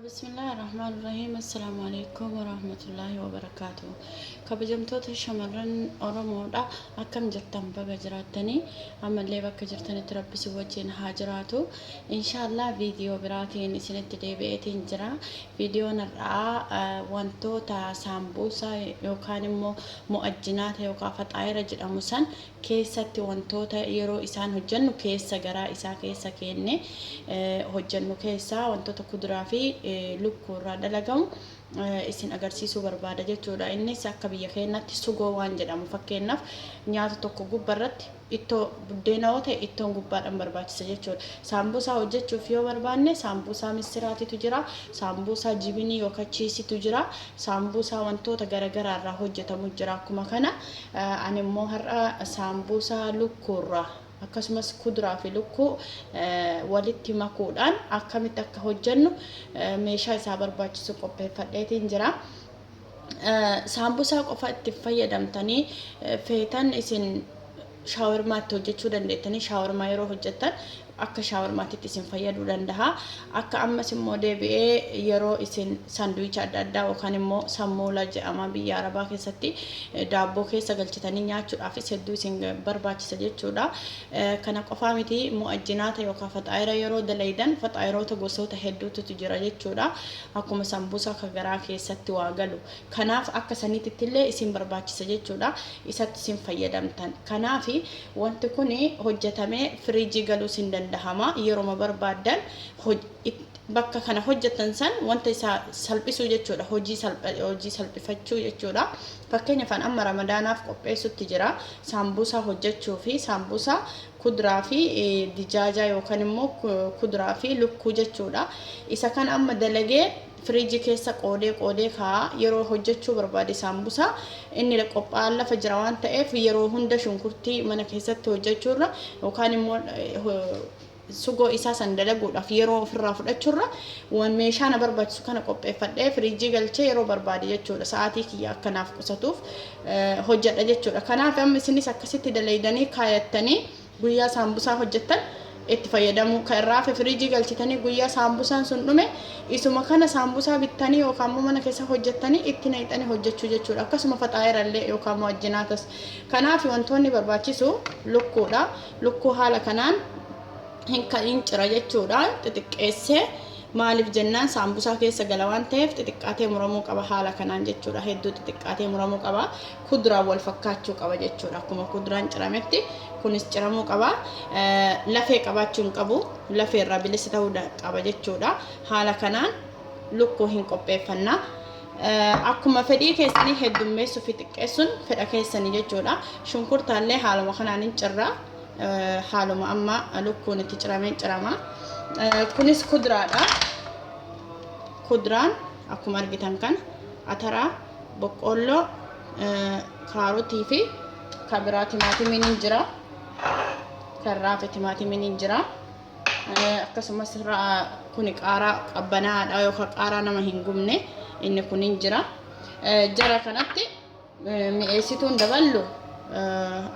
Bismillaahi Rahmaan Rahiim Assalaamu Alaikum Warahmatullaahi Wabarakaatu Kabajamtoota shamarran Oromoodha akkam jirtan baga jiraattanii ammallee bakka jirtanitti rabbi si wajjin haa jiraatu inshaallah viidiyoo biraatiin isinitti deebi'eetiin jira viidiyoon har'aa eh, wantoota saambuusaa yookaan immoo mu'ajjinaata yookaan faxaayira jedhamu san keessatti wantoota yeroo isaan hojjannu keessa garaa isaa keessa keenne hojjannu keessaa wantoota kuduraa fi lukkuu irraa dalagamu isin agarsiisuu barbaada jechuudha. Innis akka biyya keenyatti sugoo waan jedhamu fakkeenyaaf nyaata tokko gubba irratti ittoo buddeena yoo ta'e ittoon gubbaadhaan barbaachisa jechuudha. Saambuusaa hojjechuuf yoo barbaanne saambuusaa missiraatitu jira, saambuusaa jibinii yookaan chiisitu jira, saambuusaa wantoota garaagaraa irraa hojjetamu jira akkuma kana. Ani immoo har'a saambuusaa lukkuurraa akkasumas kuduraa fi lukkuu walitti makuudhaan akkamitti akka hojjennu meeshaa isaa barbaachisu qopheeffadheetiin jira. Saambusaa qofa itti fayyadamtanii feetan isin shaawarmaa itti hojjechuu dandeettanii shaawarmaa yeroo hojjettan akka shaawarmaatitti isin fayyaduu danda'a. Akka ammas immoo deebi'ee yeroo isin sanduwicha adda addaa yookaan immoo sammuula jedhama biyya arabaa keessatti daabboo keessa galchitanii nyaachuudhaafis hedduu isin barbaachisa jechuudha. Kana qofaa miti mu'ajjinaata yookaan faxaayira yeroo dalaydan faxaayiroota gosoota hedduutu jira jechuudha. Akkuma sambuusaa ka garaa keessatti waa galu. Kanaaf akka saniitittillee isin barbaachisa jechuudha. Isatti isin fayyadamtan. Kanaaf Wanti kuni hojjatamee firiijii galuus hin dandahama. Yeroma barbaaddan bakka kana hojjattan san wanta isa salphisuu jechuudha. Hojii salphifachuu jechuudha. Fakkeenyaf an amma ramadaanaaf qopheessutti jira. Saambuusaa hojjachuu fi saambuusaa kudraa fi dijaajaa yookan immoo kudraa fi lukkuu jechuudha. Isa kana amma dalagee. Firiiji keessa qoodee qoodee kaa'a. Yeroo hojjechuu barbaade saambusaa inni qophaa'an lafa jira waan ta'eef yeroo hunda shunkurtii mana keessatti hojjechuurra yookaan immoo sugoo isaa san dalaguudhaaf yeroo ofirraa fudhachuurra waan meeshaa na barbaachisu kana qopheeffadhee firiijii galchee yeroo barbaade jechuudha sa'aatii kiyya akka naaf qusatuuf hojjedha jechuudha. Kanaaf amma isinis akkasitti dalaydanii kaayattanii Guyyaa saambusaa hojjettan itti fayyadamuu ka irraa hafe firiijii galchitanii guyyaa saambusaan sun dhume isuma kana saambusaa bittanii yookaan immoo mana keessaa hojjettanii itti naqxanii hojjechuu jechuudha. Akkasuma faxaa'ira illee yookaan immoo ajjinaatas. Kanaaf wantoonni barbaachisu lukkuudha. Lukkuu haala kanaan hin ka hin cira jechuudha. Xixiqqeessee maaliif jennaan saambusaa keessa gala waan ta'eef xixiqqaatee muramuu qaba haala kanaan jechuudha. Hedduu xixiqqaatee muramuu qaba. kudraan wal fakkaachuu qaba jechuudha. Akkuma kudraan cirametti kunis ciramuu qaba. Lafee qabaachuu hin qabu. Lafee irraa bilisa ta'uu qaba jechuudha. Haala kanaan lukkuu hin qopheeffanna. Akkuma fedhii keessanii heddummeessuu fi xiqqeessuun fedha keessanii jechuudha. Shunkurtaallee haaluma kanaan hin cirra. Haaluma amma lukkuun itti cirameen cirama. Kunis kudraadha. Kudraan akkuma argitan kana ataraa Boqqoolloo, kaarotii fi kan biraa timaatimiin hin jira. Kan raafe timaatimiin hin jira. Akkasumas kun qaaraa qabbanaadha yookaan qaaraa nama hin gubne inni kun hin jira. Jara kanatti mi'eessituun daballu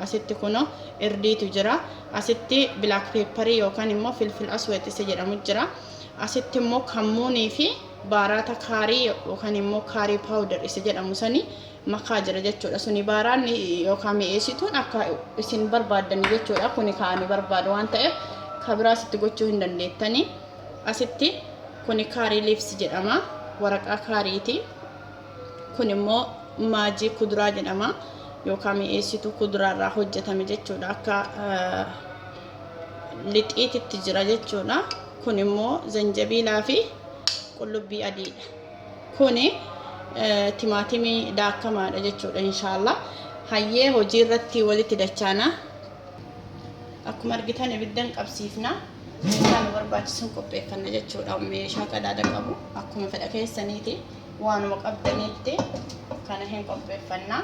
asitti kunoo irdiitu jira. Asitti bilaak peepparii yookaan immoo filfil asweet isa jedhamu jira. Asitti immoo kammuunii fi baaraata kaarii yookaan immoo kaarii paawudar isa jedhamu sani makaa jira jechuudha. Suni baaraanni yookaan mi'eessituun akka isin barbaaddan jechuudha. Kuni kan ani barbaadu waan ta'eef kan biraa asitti gochuu hin dandeettani. Asitti kuni kaarii liifsi jedhama. Waraqaa kaariiti. Kun immoo maajii kuduraa jedhama. Yookaan mi'eessituu kuduraarraa hojjetame jechuudha. Akka eh, lixiititti jira jechuudha. Kun immoo zanjabiilaa fi qullubbii adiidha. Kuni timaatimii daakkamaadha jechuudha inshaallaa. Hayyee hojii irratti walitti dachaana. Akkuma argitan ibiddan qabsiifna. Meeshaa nu barbaachisuun qopheeffanna jechuudha. Meeshaa qadaada qabu akkuma fedha keessaniiti waanuma qabdaniitti kana hin qopheeffanna.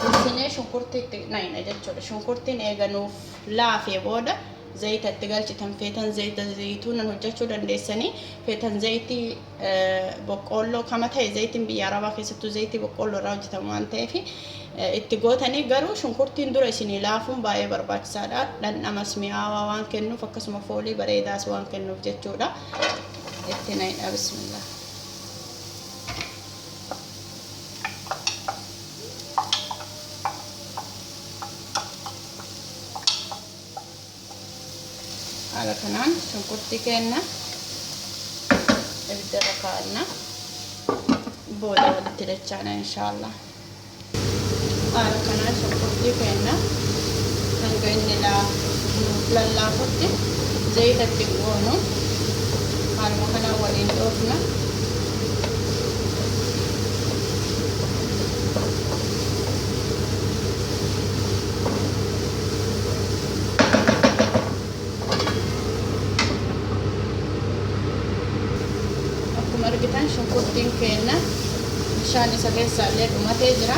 Bulchinee shunkurtii itti naqna jechuudha. Shunkurtiin eega nuuf laafee booda zayita itti galchitan feetan zayita zayituunan hojjechuu dandeessanii feetan zayitii boqqoolloo kama ta'e zayitiin biyya arabaa keessattuu zayitii boqqoolloo irraa hojjetamu waan ta'eef itti gootanii garuu shunkurtiin dura isinii laafuun baay'ee barbaachisaadha. Dhandhamas mi'aawaa waan kennuuf akkasuma foolii bareedaas waan kennuuf jechuudha. Itti naqna bismillah. haala kanaan shunkurtii keenna ibiddarra kaa'anna booda walitti dachaana inshaallah Haala kanaan shunkurtii keenya hanga inni nuuf lallaafutti zayita itti hin goonu. Haaluma kanaan waliin dhoofna. akkuma argitan shunkurtiin keenna bishaan isa keessaa illee dhumatee jira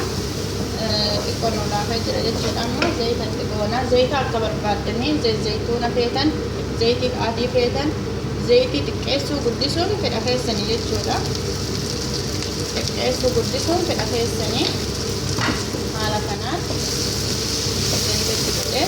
xiqqoo nu laafee jira jechuudha amma zayita itti goona zayita akka barbaaddanii zayituuna feetan zayitii adii feetan zayitii xiqqeessuu guddisuun fedha keessanii jechuudha xiqqeessuu guddisuun fedha keessanii haala kanaan zayita itti godhee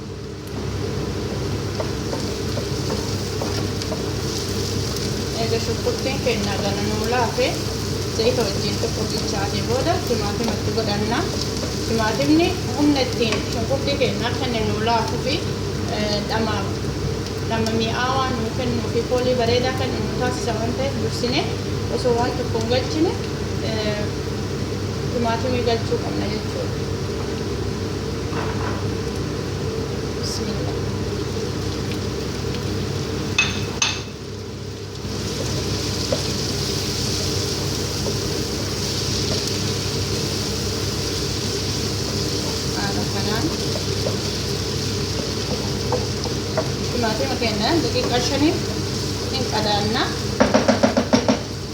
eega shunkurtiin keenya gana nuu laafe zayita wajjin tokko bilchaatee booda timaatima itti godhanna timaatimni humna ittiin shunkurtii keenyaa kenne nuu laafuu fi dhama dhama mi'aawaa nuu kennuu fi foolii bareedaa kennu nuu taasisa waan ta'eef dursine osoo waan tokko hin galchine timaatimii galchuu qabna jechuudha. Timaatima keenya daqiiqaa shaniif hin qadaanna.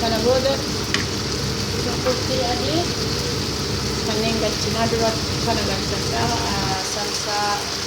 kana booda shunkurtii adii kanneen galchinaa dura kana galchadha salsaa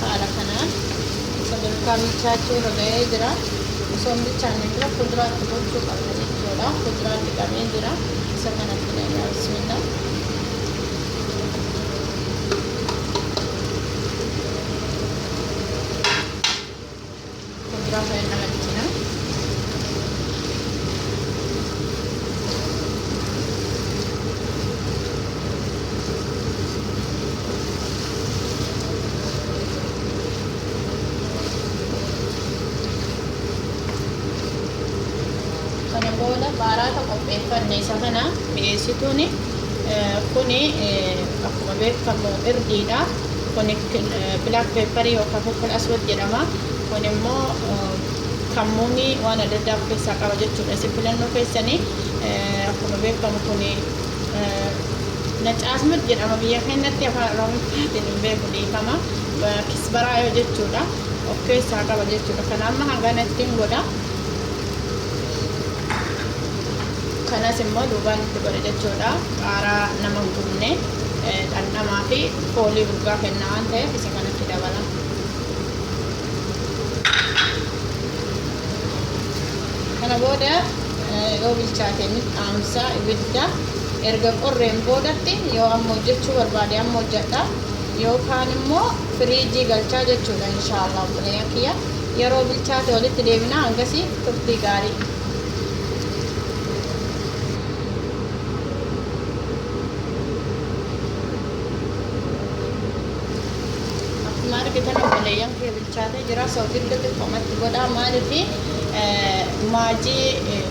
haala kanaan sadarkaa bilchaachuu irra ga'ee jira osoo hin bilchaanne dura fuduraatti gochuu qabna jechuudha fuduraa fixamee jira isa kanatti naqaa bismillah Kondiraa fayyan nama dhitina. Kana booda baaraata qopheeffanne isa kana mi'eessituun kuni akkuma beekamu irdiidha. Kuni black pepper yookaan fukul aswad jedhama. Kun immoo kammuunii waan adda addaa of keessaa qaba jechuudha. Isin filannoo keessanii akkuma beekamu kuni nacaasmad jedhama biyya keenyatti afaan oromiffaatiin hin beeku dhiifama. Kisbaraa yoo jechuudha of keessaa qaba jechuudha. Kana amma hangana ittiin godha. Kanas immoo duubaan itti godha jechuudha. Qaaraa nama hin gubne. dhandhamaa fi foolii urgaa kenna waan ta'eef isa kanatti dabala. Kana booda yoo bilchaate ni dhaamsa ibidda erga qorreen boodatti yoo amma hojjechuu barbaade amma hojjedha yookaan immoo firiijii galchaa jechuudha inshaallah obboleeyyan kiyya yeroo bilchaate walitti deebina hangasii turtii gaarii. Akkuma argitan obboleeyyan kee bilchaatee jira. So giddu xiqqoomatti godha. Maaliif maajii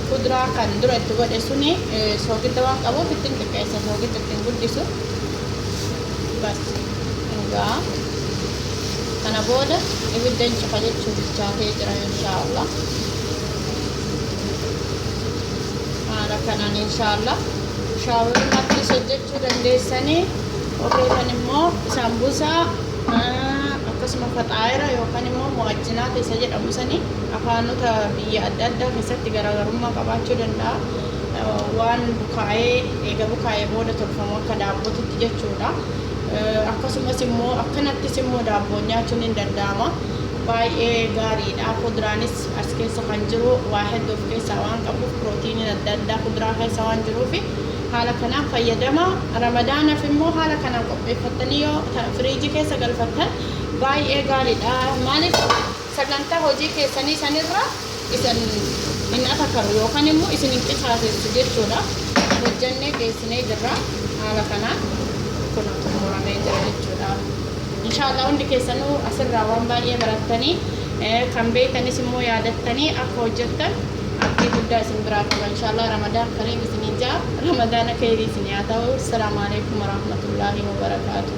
kuduraa kan dura itti godhe suni soogidda waan qabuuf ittiin xiqqeessa. Soogidda ittiin guddisu. Bas. Egaa kana booda ibidda hin cufa jechuu bilchaatee jira inshaallah. Haala kanaan inshaallah. shaawurmaattis hojjechuu dandeessanii warreetan immoo saambusaa akkasuma faxaayira yookaan immoo mo'ajjinaa keessa jedhamu sanii afaanota biyya adda addaa keessatti garaagarummaa qabaachuu danda'a waan bukaa'ee eega bukaa'ee booda tolfamu akka daabbootitti jechuudha akkasumas immoo akkanattis immoo daabboon nyaachuun hin danda'ama baay'ee gaariidha fudraanis As keessa kan jiru waa heddu of keessaa waan qabuuf pirootiiniin adda addaa kuduraa keessa waan jiruufi haala kanaan fayyadama. Ramadaanaf immoo haala kanaan qopheeffattanii yoo firiijii keessa galfattan baay'ee gaariidha. Maaliif sagantaa hojii keessanii sanirra isin hin atakaru yookaan immoo isin hin qisaasessu jechuudha. Hojjannee geessinee jirra. Haala kanaan kun xumuramee jira jechuudha. Inshaallah hundi keessanuu asirraa waan baay'ee barattanii kan beektanis immoo yaadattanii akka hojjettan abdii guddaa isin biraa qaba inshaallah ramadaan kariim isiniin ja'a ramadaana keeyrii isin yaa ta'u assalamu alaikum warahmatullahi wabarakaatuh